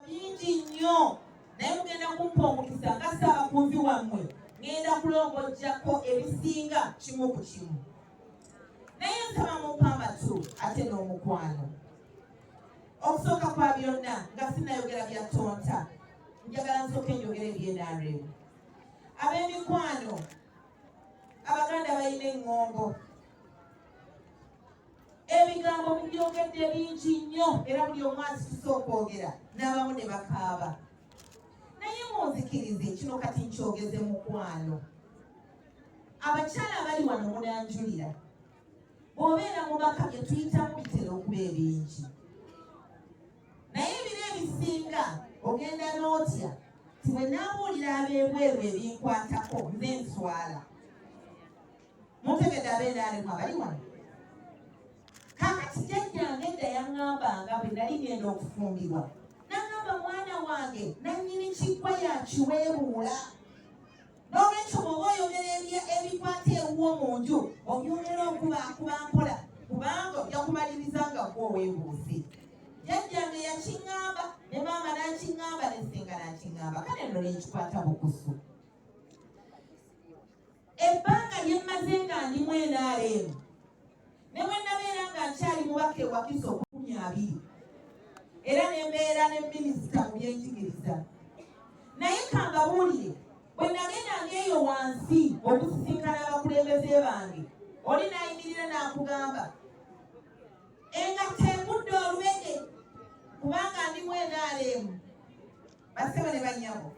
bingi nnyo naye mugenda kumpa omukisa nga ssaabakunzi wammwe ngenda kulongojjako ebisinga kimu ku kimu naye nsaba mumpa amatu ate n'omukwano okusooka kwa byonna nga sinayogera bya tonta njagala nsooka enjogera ebyenaremu ab'emikwano abaganda balina eŋŋombo ebigambo mubyogedde bingi nnyo era buli omu asituse okwogera n'abamu ne bakaaba naye munzikirize kino kati nkyogeze mukwano abakyala abali wano munanjulira bw'obeera mu baka bye tuyitamu bitera okuba ebingi naye ebiro ebisinga ogenda n'otya ti bwe naabuulira ab'ebweru ebinkwatako nze nswala Muntegedde abenaali mwe abali wano. Kakati jajjange edda yaŋŋambanga bwe nali ngenda okufumbirwa. Naŋŋamba mwana wange nannyini kiggwa yakiweebuula. N'olwekyo bw'oba oyogera ebikwata ewuwo mu nju obyogera okubakuba mpola kubanga ojja kumaliriza nga gwe oweebuuze. Jajjange yakiŋŋamba ne maama n'akiŋŋamba ne ssenga n'akiŋŋamba kale nno ne nkikwata bukusu. ebbanga lye mmaze nga ndi mu nrm ne bwe nabeera nga nkyali mubaka ewakiso okukumi abiri era ne mbeera ne minisita mu byenjigiriza naye kambabuulire bwe nagendanga eyo wansi okusisinkana abakulembeze bange oli nayimirira n'akugamba engatto egudde olubege kubanga ndi mu nrm basebo ne banyabo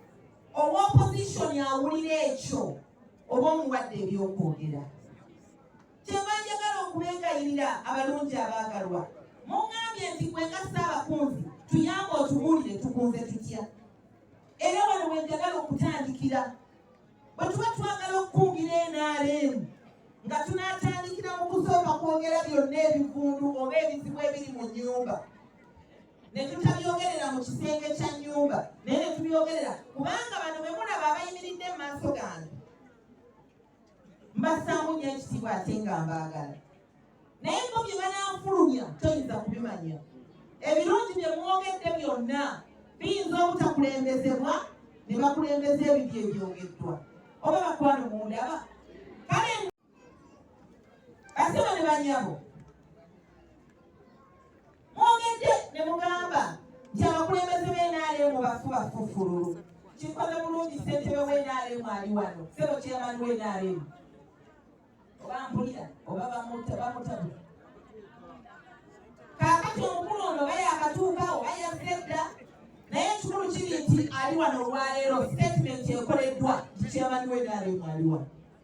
owa opposition awulira ekyo oba omuwadde ebyokwogera kyeva njagala okubegayirira abalungi abaagalwa mungambye nti kwenga saabakunzi tuyamba otubuulire tukunze tutya era wano wenjagala okutandikira bwe tuba twagala okukungira nrm nga tunatandikira mu kusooka kwogera byonna ebivundu oba ebizibu ebiri mu nyumba ne tutabyogerera mu kisenge kya nnyumba naye ne tubyogerera kubanga bano be mulaba abayimiridde mu maaso gange mbassaamu nnyo ekitiibwa ate nga mbaagala naye bo bye bananfulumya toyinza kubimanya ebirungi bye mwogedde byonna biyinza obutakulembezebwa ne bakulembeza ebibyo ebyogeddwa oba bakwano mundaba kale Asema ne banyabo mwogedde ne mugamba nti abakulembeze b'enaalimu bafu bafufululu kikoze bulungi ssentebe w'enaalimu ali wano sebo kyamani w'enaalimu oba mpulira oba bamuta bamutabula kaakati omukulu ono oba yakatuukawo oba yazze dda naye ekikulu kiri nti ali wano olwaleero sitatimenti ekoleddwa nti kyamani w'enaalimu ali wano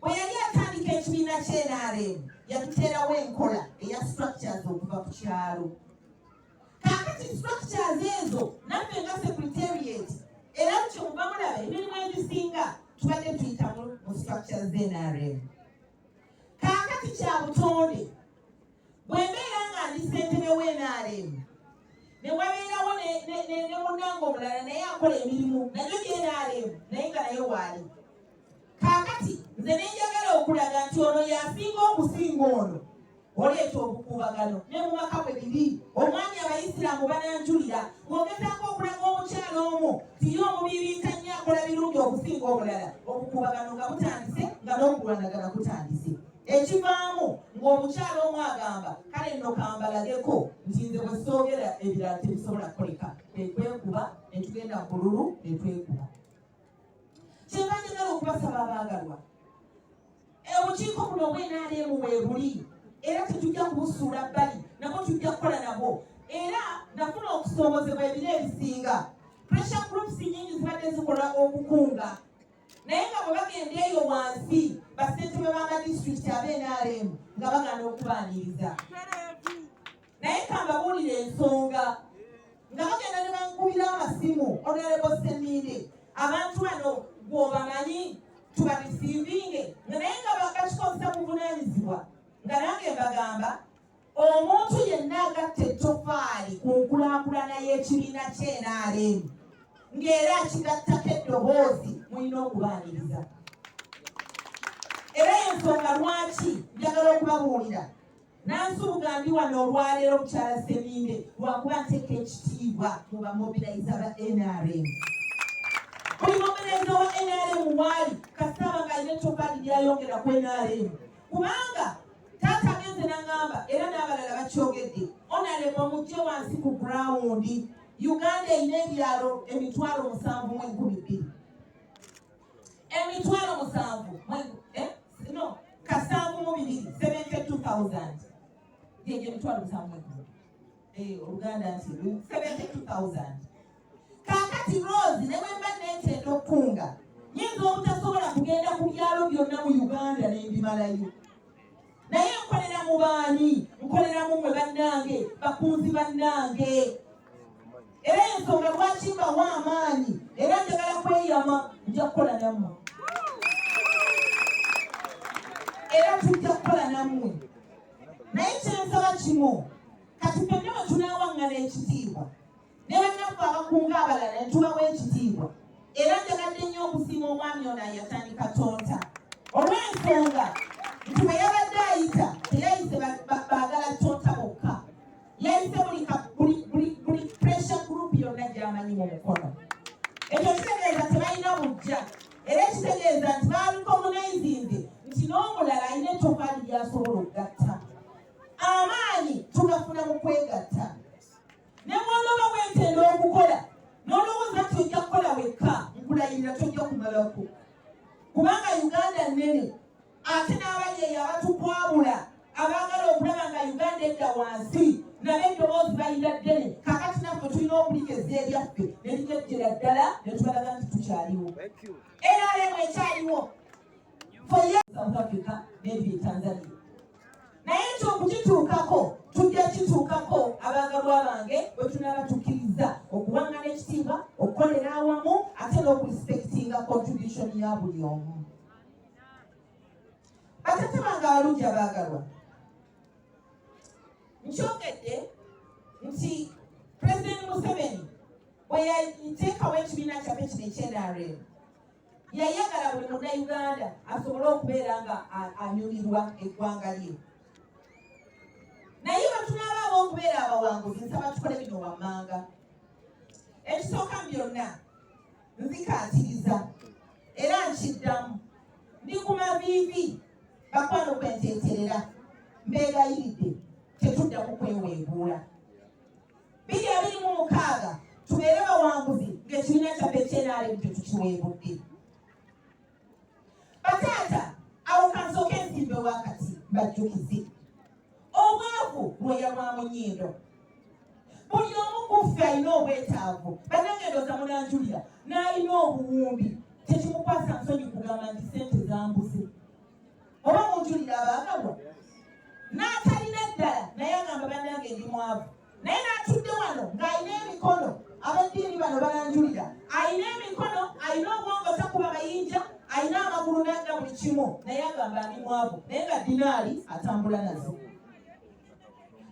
Bwe yali atandika ekibiina ky'NRM yatuteerawo enkola eya structures okuva ku kyalo. Kaakati structures ezo naffe nga secretariat era kyo muba mulaba emirimu egisinga tubadde tuyitamu mu structures z'NRM. Kaakati kya butonde bwe mbeera nga ndi ssentebe w'NRM ne wabeerawo ne munnange omulala naye akola emirimu nayo gye NRM naye nga naye waali kaakati nze nenjagala okulaga nti ono yasinga okusinga ono oleeta obukuubagano ne mu maka bwe biri omwami abayisiraamu bananjulira ng'ogezaako okulaga omukyala omu tiye omubiri ntanyi akola birungi okusinga omulala obukuubagano nga butandise nga n'okulwanagana kutandise ekivaamu ng'omukyala omu agamba kale nno kambalageko nti nze bwe soogera ebirala tebisobola kukoleka ne twekuba ne tugenda mu bululu ne twekuba kyeva njagala okubasaba abaagalwa obukiiko buno obwenaleemu weebuli era tetujja kubusuula bbali nabwo tujja kukola nabwo era nafuna okusoomozebwa ebiro ebisinga pressure groups nyingi zibadde zikola okukunga naye nga bwe bagenda eyo wansi basentebe b'amadistrict abeenaleemu nga bagana okubaaniriza naye kambabuulira ensonga nga bagenda ne bankubira amasimu onerebo seminde abantu bano gwobamanyi tubabisimbinge nga naye nga bakakikozesa buvunanyizibwa nga nange mbagamba omuntu yenna agatta ettofaali ku nkulakulana y'ekibiina kyenrm ng'era akigattako eddoboozi mulina okubaaniriza era yensonga lwaki njagala okubabuulira Nansubuga ndi wano olwaleero mukyala Seminde lwakuba nteeka ekitiibwa mu bamobiliza ba NRM. Buli mobiliza wa NRM waali kasaba nga alina ettofaali lyayongera ku NRM kubanga taata agenze nangamba era n'abalala bakyogedde NRM omujje wansi ku gurawundi Uganda erina ebyalo emitwalo musanvu mu enkumi bbiri. emitwalo musanvu eh, no kasanvu mu bibiri seventy two thousand gyegyo emitwalo musanvu mwegulu eh, oluganda nti seventy two thousand kakati rose ne bwemba nentenda okukunga nyinza obutasobola kugenda ku byalo byonna mu uganda nembimalayo naye nkolera mu baani nkolera mu mwe bannange bakunzi bannange era ensonga lwaki mbawa amaanyi era njagala kweyama nja kukola nammwe era tujja kukola nammwe naye kyensaba kimu kati fenna bwe tunaawaŋŋana ekitiibwa ne bannaffe abakunga abalala ne tubawa ekitiibwa era njagadde nnyo okusiima omwami ono ayatandika tonta olw'ensonga nti bwe yabadde ayita teyayise baagala tonta bokka yayise buli pressure group yonna gyamanyi mu mukono ekyo kitegeeza tebalina bujja era ekitegeeza nti baaliko munaizinze nti n'omulala alina ettofaali lyasobola okugatta amaanyi tugafuna mu kwegatta ne bw'onooba weetenda okukola n'olowooza nti ojja kukola wekka nkulayirira tojja kumalako kubanga uganda nnene ate n'abali eyo abatukwabula abaagala okulaba nga uganda edda wansi nabe eddoboozi balina ddene kakati naffe tulina okuligeza ebyaffe ne ligyejjera ddala ne tubalaga nti tukyaliwo era lemu ekyaliwo south africa n'ebiri tanzania naye ekyo okukituukako tujja kituukako abaagalwa bange bwe tunaaba tukkiriza okuwangana ekitiibwa okukolera awamu ate n'okurisipekitinga contribution ya buli omu batata bange abalungi abaagalwa nkyogedde nti pulezidenti museveni bwe yateekawo ekibiina kyaffe kino ekyenrm yayagala buli munnayuganda asobole okubeera nga anyumirwa eggwanga lye naye bwetunaabaawo okubeera abawanguzi nsaba tukole bino wammanga ekisooka mu byonna nzikaatiriza era nkiddamu ndi ku maviivi bakwano kwenteeterera mbeegayiridde tetuddamu kweweebuula biri abiri mu mukaaga tubeere bawanguzi ng'ekibiina kyaffe ekyenaalemu tetukiweebudde bataata awo kansooke ensimbe wakati bajjukize obwavu lwoya lwa munyindo buli omu kuffe alina obwetaavu banange ndoza munanjulira n'alina obuwumbi tekimukwasa nsonyi kugamba nti sente zambuze oba munjulira abaagalwa n'atalina ddala naye agamba bannange ndi mwavu naye n'atudde wano ng'alina emikono abaddiini bano bananjulira alina emikono alina obwongo takuba mayinja alina amagulu n'adda buli kimu naye agamba ndi mwavu naye nga dinaali atambula nazo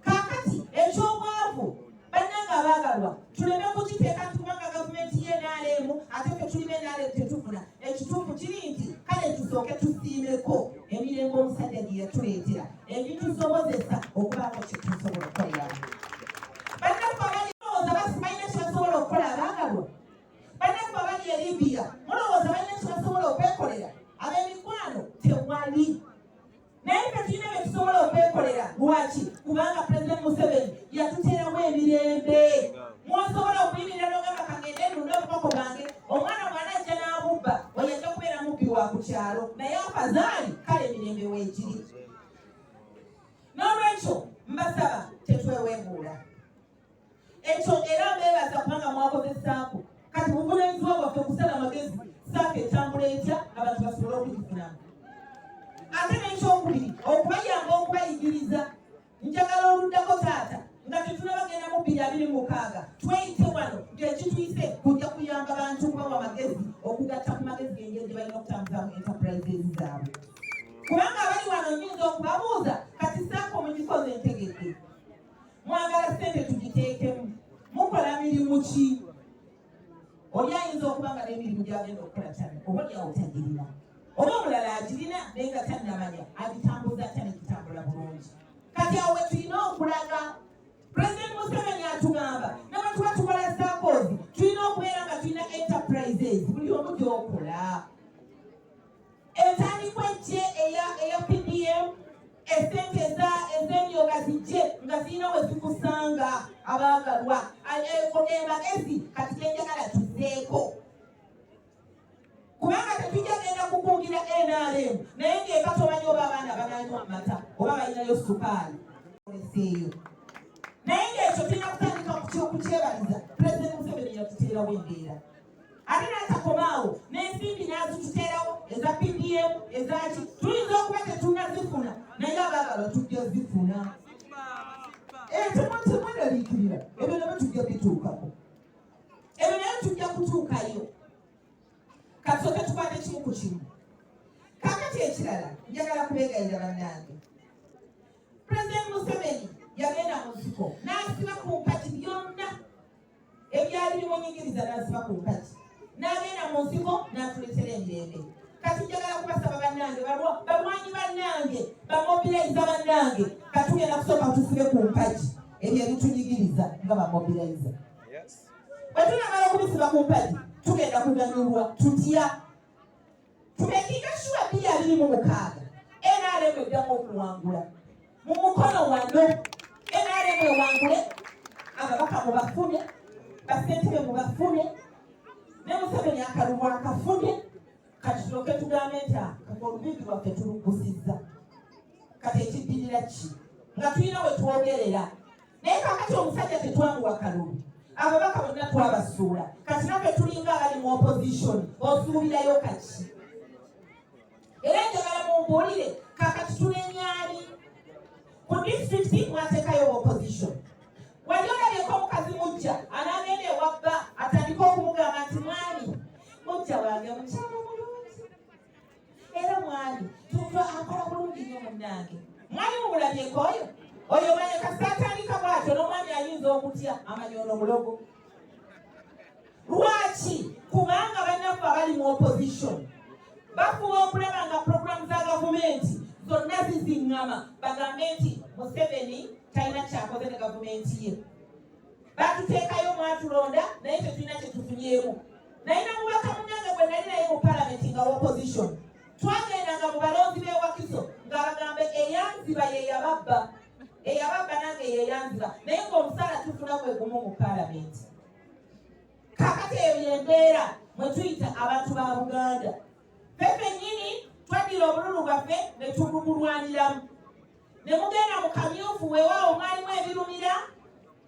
kakati eky'obwavu bannanga abaagalwa tuleme kukiteeka nti kubanga gavumenti ye nrm ate fe tulime nrm tetufuna ekituufu kiri nti kale tusooke tusiimeko emirembe omusajja gye yatuleetera ebitusobozesa okubaako kyetusobola okukoleramu naye ffe tulina bye tusobola okwekolera lwaki kubanga pulezidenti museveni yatuteeramu emirembe mwosobola okuyimirira nogamba kagende nunde obukoko bwange omwana mwana ajja n'abubba oyo ajja kubeera mubbi wa ku kyalo naye afazaali kale emirembe weegiri n'olwekyo mbasaba tetwewebuula ekyo era beebaza kubanga mwakozesaako kati buvunaanyizibwa bwaffe kusala amagezi saako etambula etya abantu basobole okugifunamu ate n'ekyokubiri okubayamba okubayigiriza njagala oluddako taata nga tetunabagenda mu bbiri abiri mukaaga tweyite wano ngekituyise kujja kuyamba bantu kubawa amagezi okugatta ku magezi gengeri gye balina okutambuzaamu enterprises zaabwe kubanga abali wano nyinza okubabuuza kati saako mugikoze entegedde mwagala sente tugiteekemu mukola mirimu ki oli ayinza okuba nga n'emirimu gyagenda okukola tane oba lyawo tagirina oba omulala agirina naye nga tannamanya agitambuza atya negitambula bulungi kati awo wetulina okulaga pulezidenti museveni atugamba nabantuba tukola sakozi tulina okubeera nga tulina enterprises buli omu gyokola entandikwa ejje eya PDM esente ez'emyoga zijje nga zirina we zikusanga abaagalwa emagezi kati genjagala tuzeeko kubanga tetujja genda kukungira nrm naye ng'eka tomanyi oba abaana bananywa amata oba balinayo sukaali eyo naye ng'ekyo tulina kutandika kukyebaliza pulezidenti museveni yatuteerawo embeera ate n'atakomaawo n'ensimbi n'azituteerawo eza pdm ezaki tuyinza okuba tetunazifuna naye abaagala tujja zifuna ekimukimunaliikirira ebyo nabyo tujja bituukako ebyo naye tujja kutuukayo kasooke tukwate kimu ku kimu kakati ekirala njagala kubegayira bannange pulezidenti museveni yagenda mu nsiko n'asiba ku mpati byonna ebyali bimunyigiriza n'asiba ku nkaki n'agenda mu nsiko n'atuleetera emirembe kati njagala kubasaba bannange balwanyi bannange bamobilayiza bannange katugenda kusooka tusibe ku mpagi ebyo ebitunyigiriza nga bamobilayiza bwe tunamala okubisiba ku mpagi tugenda kuganyulwa tutya Ku dakiika shuwa bbiri abiri mu mukaaga NRM eddamu okuwangula mu mukono wano NRM ewangule ababaka mu bafune basentebe mu bafune ne Museveni akalulu akafune kati tulyoke tugambe nti ah, olubingi lwaffe tulugusizza kati ekiddirira ki nga tulina we twogerera naye kakati omusajja tetwamuwa kalulu ababaka bonna twabasuula kati naffe tulinga abali mu opposition osuubirayo kaki era njagala mumbuulire kakati tunenyani ku disitulikiti mwatekayo opposition wali olabyeko omukazi mujja anagenda ewabba atandika okumugamba nti mwami mujja wange mukyalo era mwali tuntu akola bulungi nyo munange mwali mumulabyeko oyo oyo manye kasatandika bwatyo nomwami ayinza okutya amanya ono mulogo lwaki kubanga bannaffe abali mu opposition bafuba okulaba nga programu za gavumenti zonna ziziŋŋama bagambe nti museveni talina kyakoze ne gavumenti ye batuteekayo mwatulonda naye tetulina kyetufunyeemu naye nomubaka munange gwe nali naye mu palamenti nga opposition twagendanga mu balonzi bewakiso ng'abagamba eyanziba yeyababba eyababba nange yeyanziba naye ngaomusaala tufuna gwe gumu mu palamenti kakati eyo yembeera mwe tuyita abantu ba buganda fe fenyini twaddira obululu bwaffe ne tubugulwaniramu ne mugenda mu kamyufu weewaawo mwalimu ebirumira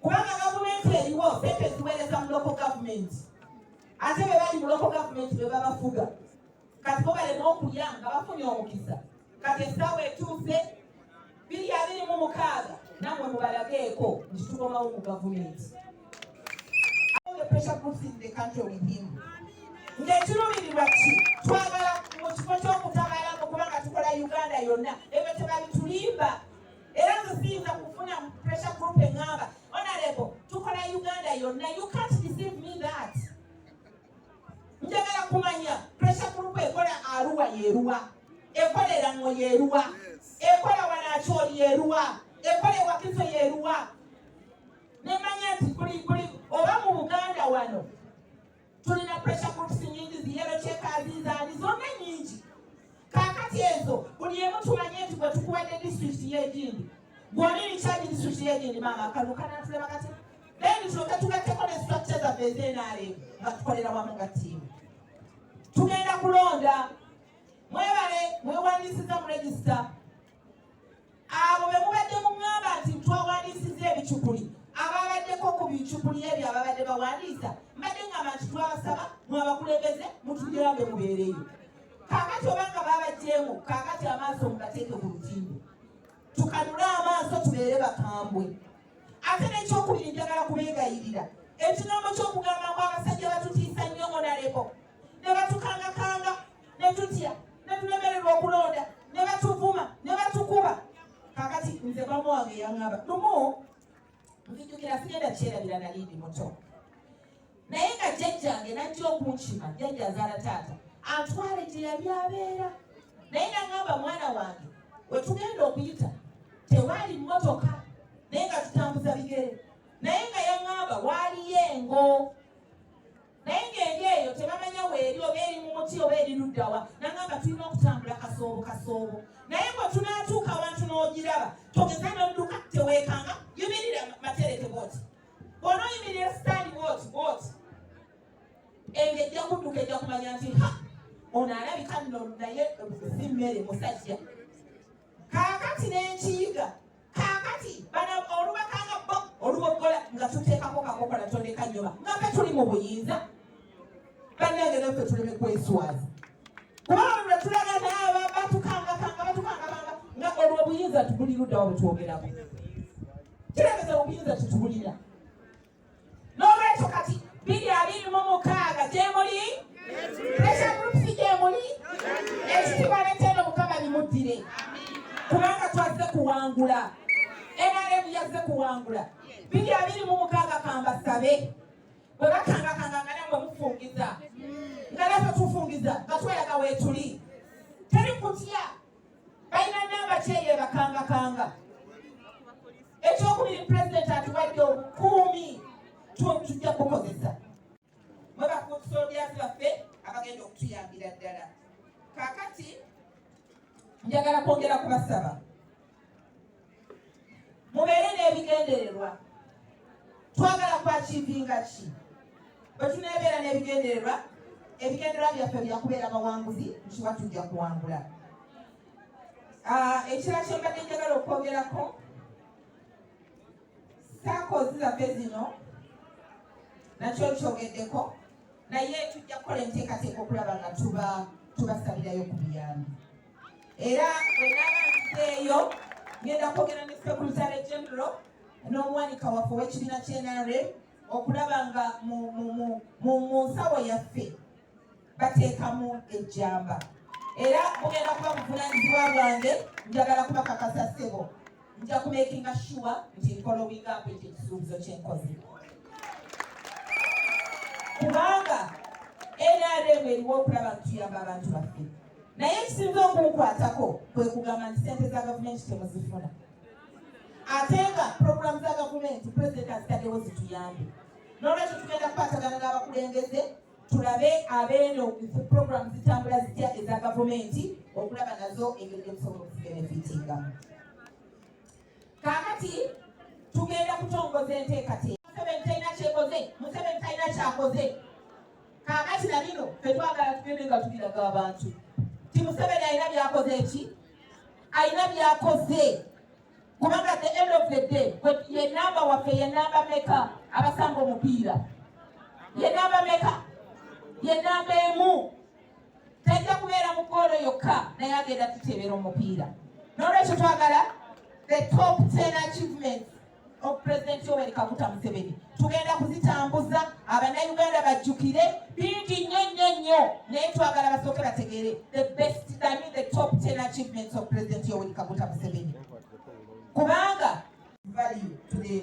kubanga gavumenti eriwo sente ziweereza mu loko gavumenti ate be bali mu loko gavumenti be babafuga kati bo balema okulya nga bafunye omukisa kati essaawa etuuse biri abiri mu mukaaga namwe mubalageeko nti tukomawo mu gavumenti ng'ekirumirirwa ki twagala mu kifo ky'okutabalamu kubanga tukola uganda yonna ebyo tebabitulimba era nze siyinza kufuna pressure group eŋŋamba onalebo tukola uganda yonna you can't deceive me that njagala kumanya pressure group ekola aruwa yeruwa ekolera ŋo yeruwa ekola wanakyoli yeruwa ekola ewakiso yeruwa nemanya nti kuli kuli oba mu buganda wano tulina pressure groups nyingi ziyero kyekazi zaali zonna nyingi kakati ezo buli emu tumanye nti gwe tukuwadde district yegindi gwoli likyagi district yegindi maama kano kanatulema kati then tuloke tugatteko ne structure zaffe ezenare nga tukolera wamu nga tiimu tugenda kulonda mwebale mwewandisiza mu register abo be mubadde muŋŋamba nti twawandiisiza ebicupuli ababaddeko ku bicupuli ebyo ababadde bawandiisa mbadde ŋŋamba nti twabasaba mwabakulembeze mutugirabe mubeereyo kaakati obanga babagyemu kaakati amaaso mugateeke ku lutimbe tukanule amaaso tubeere bakambwe ate nekyokubiri njagala kubegayirira ekigambo kyokugamba ngu abasajja batutiisa nnyo onalebo ne batukangakanga ne tutya ne tulemererwa okulonda ne batuvuma ne batukuba kakati nze maama wange yaŋŋamba lumu nzijukira sigenda kyerabira nali ndi muto naye nga jjajjange najja okunkima jjajja azaala taata antwale gye yali abeera naye naŋŋamba mwana wange wetugenda okuyita tewaali mmotoka naye nga tutambuza bigere naye nga yaŋŋamba waaliyo engo naye ng'eri eyo tebamanya weeri oba eri mu muti oba eri luddawa nangamba tulina okutambula kasoobo kasoobo naye bwe tunaatuuka wantu n'ogiraba togeza n'odduka teweekanga yimirira matereke bwoti bona oyimirira sitaani bwoti bwoti enge ejja kudduka ejja kumanya nti ha ono alabika nno naye si mmere musajja kaakati n'enkiyiga kaakati bana olubaka nga bo oluboggola nga tuteekako kakokola tondeka nyoba nga fe tuli mu buyinza bannange naffe tuleme kweswaza kuba olula tulaga naaba batukangakanga batukangakanga nga olwo obuyinza tubuli luddawo bwetwogerako kirageza obuyinza tetubulira n'olwekyo kati biri abiri mu mukaaga gyemuli pressure groups gyemuli ekitiibwa n'ekyeno mukama bimuddire kubanga twazze kuwangula nrm yazze kuwangula biri abiri mu mukaaga kambasabe bwe bakangakanga nga namwe mufungiza nga naffe tufungiza nga tweraga weetuli teri kutya balina namba kyeyo ebakangakanga ekyokubiri pulezidenti atuwadde obukuumi tujja kukozesa mwe bakusolobyazi baffe abagenda okutuyambira ddala kakati njagala kwongera kubasaba mubeere n'ebigendererwa twagala kwakivinga ki bwe tuneebeera n'ebigendererwa ebigendererwa byaffe byakubeera bawanguzi nkiba tujja kuwangula ah, ekirala kyembadde njagala okwogerako saakoozi zaffe zino nakyo kyogeddeko naye tujja kukola enteekateeka okulaba nga tuba tubasabirayo ku biyambi era wenabanzeeyo ngenda kwogera ne secretary general n'omuwanika waffe ow'ekibiina kyenare okulaba nga mu nsawo yaffe bateekamu ejjamba era bugenda kuba buvunanyizibwa bwange njagala kubakakasa sebo nja kumekinga shuwa nti nkola obwigambwe nti ekisuubizo kyenkozi kubanga nrm eriwo okulaba nti tuyamba abantu baffe naye ekisinze okunkwatako kwe kugamba nti sente za gavumenti temuzifuna ate nga puroguramu za gavumenti pulezidenti azitaddewo zituyambe nolwekyo tugenda kukwatagana n'abakulembeze tulabe abeeno puroguramu zitambula zitya eza gavumenti okulaba nazo engeri gyemusobola okubenefitingamu Kaakati tugenda kutongoza enteekateeka. Museveni talina kyekoze, Museveni talina kyakoze. Kaakati na bino ffe twagala tugende nga tubiraga abantu ti Museveni alina byakoze ki, alina byakoze kubanga the end of the day ye namba waffe ye namba meka abasanga omupiira ye namba meka ye namba emu tajja kubeera mu goolo yokka naye agenda tuteebera omupiira nolwekyo twagala the top 10 achievements of president yoweri kaguta museveni tugenda kuzitambuza abanauganda bajjukire bingi nnyo nnyo nnyo naye twagala basooke bategeere the best dani the top 10 achievements of president yoweri kaguta museveni kubanga value to the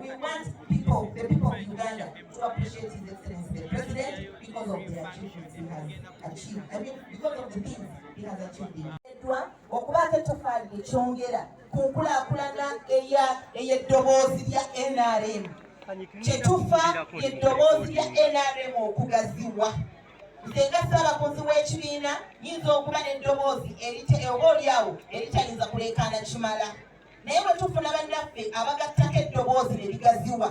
We want people, the people of Uganda, to appreciate His Excellency the President because of the achievements he has achieved. I mean, because of the things he has achieved. okubaako ettofaali lye kyongera ku nkulaakulana ey'eddoboozi lya nrm kyetufa eddoboozi lya nrm okugaziwa nze nga ssaabakunzi w'ekibiina yinza okuba n'eddoboozi oba olyawo eritayinza kuleekaana kimala naye bwe tufuna bannaffe abagattako eddoboozi ne ligaziwa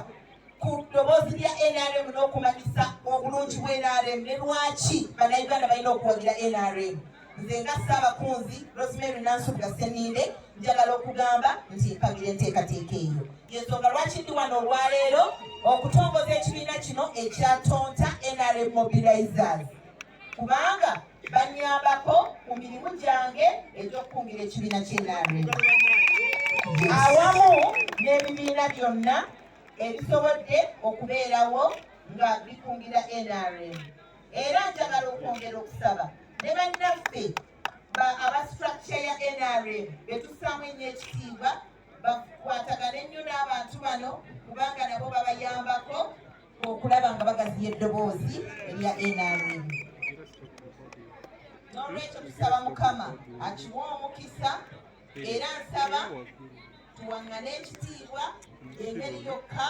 ku ddoboozi lya nrm n'okumanyisa obulungi bwa nrm ne lwaki bannayuganda balina okuwagira nrm nze nga ssaabakunzi rosemary nansubuga seninde njagala okugamba nti mpagira enteekateeka eyo yensonga lwaki ndi wano olwaleero okutongoza ekibiina kino ekyatonta nrm mobilizers kubanga bannyambako mu mirimu gyange egy'okukungira ekibiina ky'enarm awamu n'ebibiina byonna ebisobodde okubeerawo nga bikungira nrm era njagala okwongera okusaba ne bannaffe aba structure ya nrm betusaamu ennyo ekitiibwa bakwatagane nnyo n'abantu bano kubanga nabo babayambako okulaba nga bagaziya eddoboozi erya nrm n'olwekyo tusaba mukama akiwa omukisa era nsaba tuwangane ekitiibwa engeri yokka